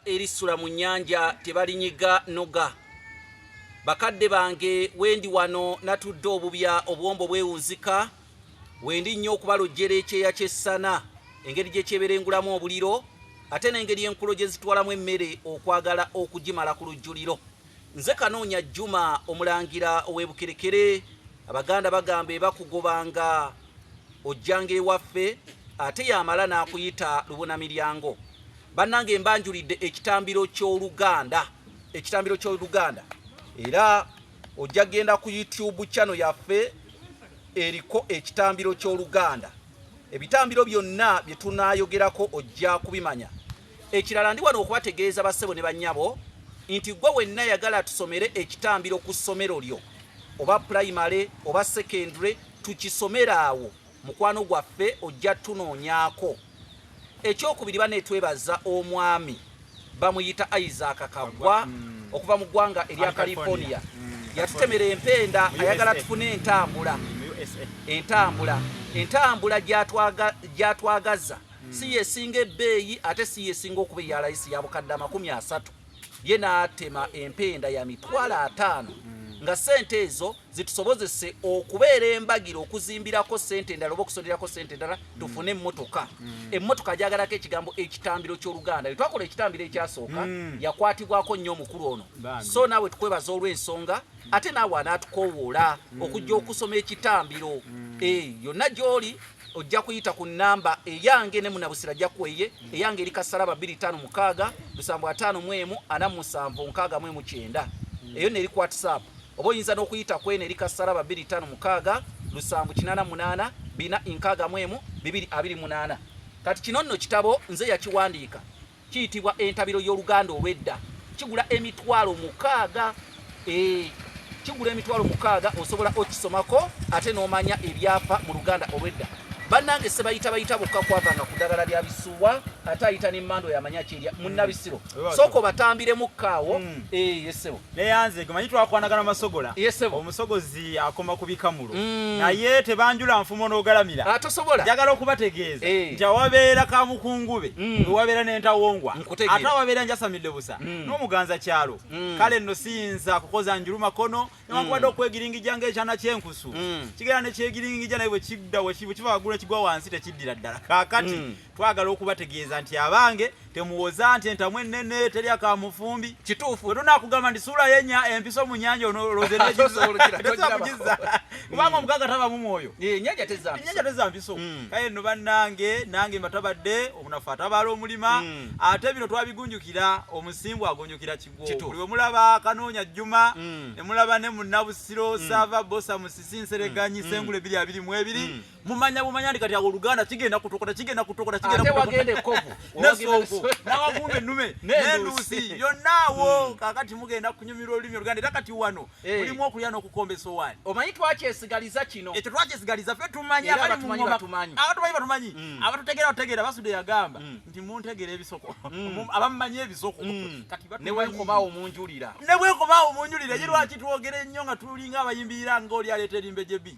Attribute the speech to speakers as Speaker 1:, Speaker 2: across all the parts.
Speaker 1: erisula mu nnyanja tebalinyiga noga bakadde bange wendi wano natudde obubya obuwombo bwewunzika wendi nnyo okubalojjera ekyeya ky'essana engeri gye kyeberengulamu obuliro ate n'engeri enkulo gye zitwalamu emmere okwagala okugimala ku lujjuliro Nze Kanoonya Juma omulangira ow'e Bukerekere, Abaganda bagamba ebakugobanga ojjanga ewaffe ate yamala n'akuyita lubona miryango. Bannange mbanjulidde ekitambiro ky'Oluganda, ekitambiro ky'Oluganda era ojja genda ku YouTube channel yaffe eriko ekitambiro ky'Oluganda. Ebitambiro byonna bye tunaayogerako ojja kubimanya. Ekirala ndi wano okubategeeza bassebo ne bannyabo nti gwe wenna yagala tusomere ekitambiro ku ssomero lyo oba pulayimale oba sekendule tukisomere awo mukwano gwaffe ojja tunoonyaako ekyokubiri banetwebaza omwami bamuyita isaac kagwa mm. okuva mu ggwanga erya california mm. yatutemera empenda ayagala tufune entambula entambula entambula gyatwagaza hmm. si yesinga ebbeeyi ate si yesinga okuba eya layisi ya bukadde amakumi asatu ye n'atema empenda ya mitwalo ataano hmm. nga sente ezo zitusobozese okubeera embagiro okuzimbirako sente endala oba okusonerako sente endala hmm. tufune emmotoka emmotoka gyagalako ekigambo ekitambiro ky'oluganda lwe twakola ekitambiro ekyasooka yakwatibwako nnyo omukulu ono so naawe tukwebaza olw'ensonga ate naawe anaatukowoola okujja okusoma ekitambiro eh, yonna gy'oli ojja kuyita ku namba eyange ne munabusira ajja kuweye eyange eri kasalaba 25 lusambu ataano mwemu ana musanvu nkaaga mwemu kyenda eyo neri ku whatsapp oba oyinza n'okuyita kweno eri kasalaba 25 lusambu kinana munana bina inkaaga mwemu bibiri abiri munana kati kino nno kitabo nze yakiwandiika Kiyitibwa entabiro y'Oluganda olw'edda. Kigula emitwalo mukaaga. Eeh, kigula emitwalo mukaaga. Osobola okisomako ate n'omanya ebyapa mu Luganda olw'edda. Bannange Ssebayita bayita bokka kwavanga ku ddagala lya bisuwa ate ayita n'emmandwa y'amanya ki erya Munnabisiro. Sooka obatambiremukko awo. Eeh, ye ssebo. neyanze gemanyi
Speaker 2: twakwanagana masogola omusogozi akoma ku bikamulo mm. naye tebanjula nfumo n'ogalamira ah, njagala
Speaker 1: okubategeeza
Speaker 2: eh. nti awabeera kamukungube mm. ewabeera n'entawongwa ate awabeera njasamidde busa mm. n'omuganza kyalo kale nno siyinza kukoza njulu makono newankubadde okwegiringija ng'ekyana kyenkusu kigera nekyegiringija naye bwekidda bwekiva wagulu ekigwa wansi tekiddira ddala kakati twagala okubategeeza nti abange temuwoza nti entamu ennene terya ka mufumbi kituufu wetunakugamba nti suula yenya empiso mu nyanja onoloze nekizolokiratezakugiza kubanga omugaga taba mu mwoyo enyanja teza mpiso hmm. kaye no bannange nange mbatabadde obunafu atabaala omulima hmm. ate bino twabigunjukira omusimbu agunjukira kigwo buli wemulaba kanoonya jjuma hmm. emulaba ne munabusiro sava bosa musisi nsereganyi sengule biri abiri mu ebiri mumanya bumanya ndi kati awo oluganda kigenda kutokota kigenda kutokota kigenda wagenda ekkovu nesonko nawagumba ennume nenduusi yonnaawo hmm. kakati mugenda kunyumira olulimi oluganda era kati wano eh. mulimu okulya n'okukomba esowaani omanyi twakyesigaliza
Speaker 1: kino ekyo twakyesigaliza fe
Speaker 2: tumanyi abali mu ngoma abatumanyi batumanyi hmm. abatutegeera bategeera basude yagamba hmm. nti muntegeera ebisoko abamumanyi ebisoko kati newenkobawo
Speaker 1: munjulira newenkobawo munjulira
Speaker 2: ye lwaki twogera ennyo nga tulinga abayimbirira nga oli aleeta erimbe gyebi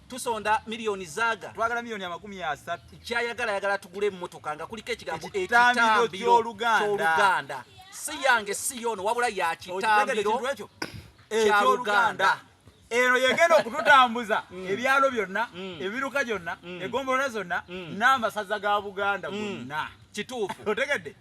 Speaker 1: tusonda milioni zaga twagala milioni amakumi
Speaker 2: asatu kyayagala yagala
Speaker 1: tugule emmotoka nga kuliko ekigambo ekitambiro ky'oluganda si yange si yono wabula ya kitambiro kyaluganda eno
Speaker 2: yegenda okututambuza mm. ebyalo byonna mm. ebiruka gyonna mm. egombolola zonna n'amasaza ga buganda gonna kituufu otegedde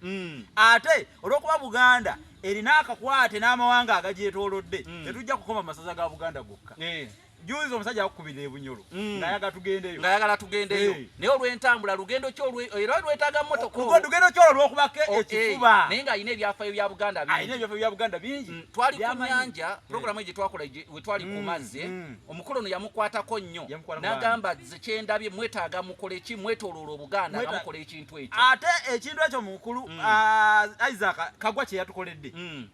Speaker 2: ate olwokuba buganda erina akakwate n'amawanga agagyetolodde tetujja kukoma masaza ga buganda gokka eh. Juzi omusajja akukubira ebunyoro mm. ngayagala tugendeyo ngayagala tugendeyo hey. naye olwentambula lugendo ki era olwetaaga mmotoka oh, lugendo ki olwo lwokubako oh, ekifuba hey. naye ng'alina ebyafayo
Speaker 1: bya buganda bingi alina ebyafayo bya buganda bingi mm. twali ku nyanja mm. programu eyo gye twakola we twali mm. ku mazzi mm. omukulu ono yamukwatako nnyo n'agamba ze kyendabye mwetaaga mukole ki mwetoloola obuganda nga mukola ekintu ekyo ate
Speaker 2: ekintu ekyo mukulu
Speaker 1: mm.
Speaker 2: uh, isaac kagwa kye
Speaker 1: yatukoledde
Speaker 2: mm.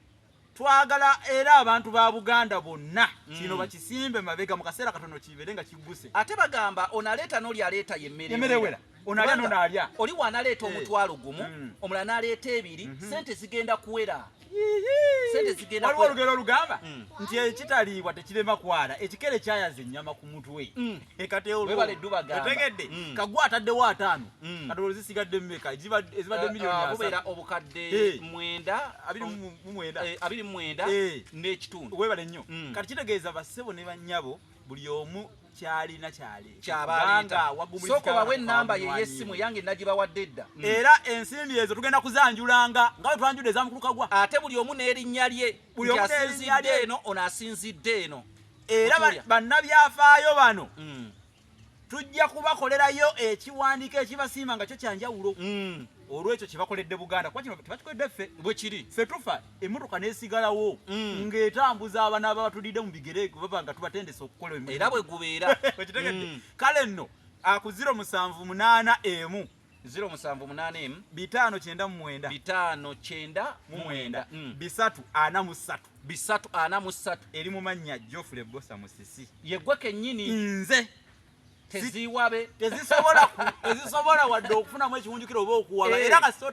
Speaker 2: twagala era abantu ba buganda bonna mm. kino bakisimbe mabega mu kaseera katono kibeere nga kigguse ate bagamba
Speaker 1: onaleeta n'oli aleeta yemmerewera
Speaker 2: onalya nonalya oli wanaleeta eh.
Speaker 1: omutwalo gumu mm. omulala naleeta ebiri mm-hmm. sente zigenda kuwera
Speaker 2: waliwo olugero olugamba mm. nti ekitaliibwa tekirema kwala ekikere kyayaza ennyama ku mutwe webale dubagambaotegedde
Speaker 1: mm. kagwa ataddewo
Speaker 2: ataano mm. katolo zisigadde mumeka ezibadde eh, miliyonibubeera ah, obukadde
Speaker 1: eh. mwenda eh, abiri mumwenda n'ekitundu webale nnyo mm. kati
Speaker 2: kitegeeza bassebo ne bannyabo buli omu kyalina kyalisooka
Speaker 1: bawe enamba ye yesimu yange nagibawadde dda mm. era ensimbi
Speaker 2: ezo tugenda kuzanjulanga nga wetwanjudde ezamukulu kagwa ate buli omu n'erinnya
Speaker 1: lye buli omu n'erinnya lye eno ono asinzidde eno era
Speaker 2: bannabyafaayo bano mm. tujja kubakolerayo ekiwandiiko ekibasiima nga kyo kyanjawulo mm. olwekyo kyebakoledde buganda kuba kino tebakikoledde ffe bwekiri ffe tufa
Speaker 1: emmotoka
Speaker 2: nesigalawo mm. ng'etambuza abana aba batulidde mu bigere baba nga tubatendesa okukola era bwe gubeera
Speaker 1: kale
Speaker 2: nno akuziro musanvu munaana emu ziro musanvu
Speaker 1: munaana emu bitaano kyenda mu mwenda bitaano
Speaker 2: kyenda mu mwenda mm. bisatu ana mu ssatu
Speaker 1: bisatu ana mu ssatu eri mu mannya
Speaker 2: jofule bosa musisi yegwe kennyini
Speaker 1: nze
Speaker 2: teziwabe tezisobola tezisobola
Speaker 1: wadde
Speaker 2: okufunamu ekiwunjukiro oba okuwaba eh. era kasita